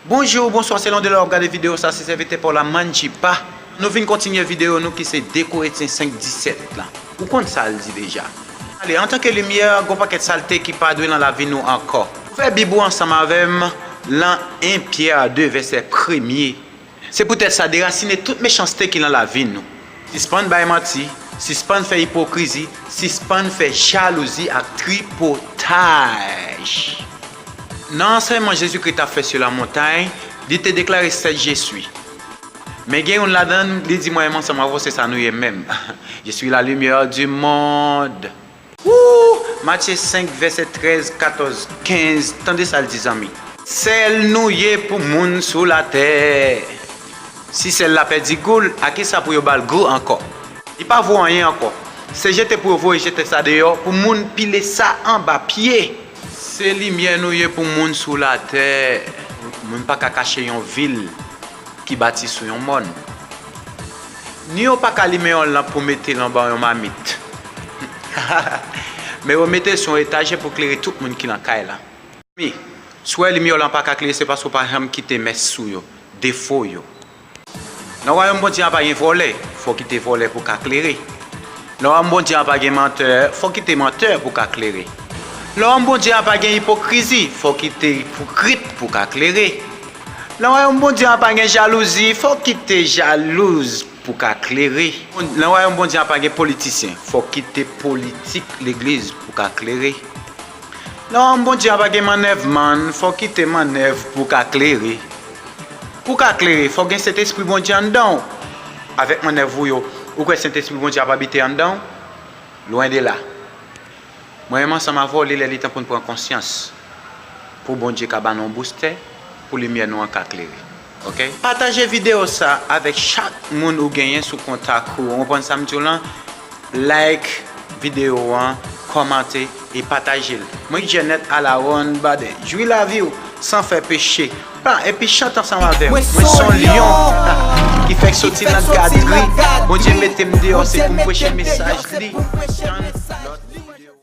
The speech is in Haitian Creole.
Bonjou ou bonswa selon de lè wap gade video sa se sèvitè paw la manji pa nou vin kontinye video nou ki se 2 koretyen 5 17 lan ou konn sal di deja ale antanke limyè gon pakèt salte ki pa dwe lan lavi nou ankò. Ouvè bib ou ansanm avèm lan 1 Pierre 2 vèsè premye. Se poutèt sa, derasine tout mechanste ki nan lavi nou. Sispann bay manti, sispann fè ipokrizi, sispann fè jalouzi ak tripotaj. Nan ansèyman Jezikri t ap fè sou Lamontay, li te deklare sèt Je Sui. Men gen youn ladan l, li di mwen e m ansanm avò se sa nou ye menm, Je sui la limyè di mond. Ooh! Matye 5 vèsè 13, 14, 15 tande sa l di zanmi. Sèl nou ye pou moun sou latè. Si sèl la pèdi gou l, a ki sa pou yo ba l gou ankò? Li pa vo anyen ankò. Se jete pou yo voye jete sa deyò pou moun pile sa anba pye. Se limyè nou ye pou moun sou latè. Moun pa ka kache yon vil ki bati sou yon mòn. Ni yo pa ka limen yon lanp pou mete l anba yon mamit. Men yo mete l sou yon etajè pou klere tout moun ki lan kay la. Zanmi, si w wè limyè w lan pa ka klere se paske w pa janm kite mès ou yo, defo yo. Nan wayòm Bondye a pa gen vòlè, fò w kite vòlè pou w ka klere. Nan wayòm Bondye a pa gen mantè, fò w kite mantè pou w ka klere. Nan wayòm Bondye a pa gen ipokrizi, fò w kite ipokrit pou w ka klere. Nan wayòm Bondye a pa gen jalouzi, fò w kite jalouz pou w ka klere. Nan wayòm Bondye a pa gen politisyen, fò w kite politik legliz pou w ka klere. Nan wayòm Bondye a pa gen mannèvmann, fò w kite mannèv pou w ka klere. Pou w ka klere, fò w gen Sentespri Bondye anndan w. Avèk mannèv ou yo, ou kwè Sentespri Bondye ap abite anndan w? Lwen de la! Mwen menm ansanm avè w li lè li tan pou n pran konsyans pou Bondye ka ba nou yon boustè pou limyè nou an ka klere ok. Pataje video sa avèk chak moun ou genyen sou kontak ou konprann sam diw lan like video an kòmante e pataje l mwen Janet Alaron Baden jwi lavi w san fè peche pa epi chante ansanm avè m mwen son lyon ki fèk soti nan gadri Bondye mete m deyò se pou m preche mesaj li tann lòt video.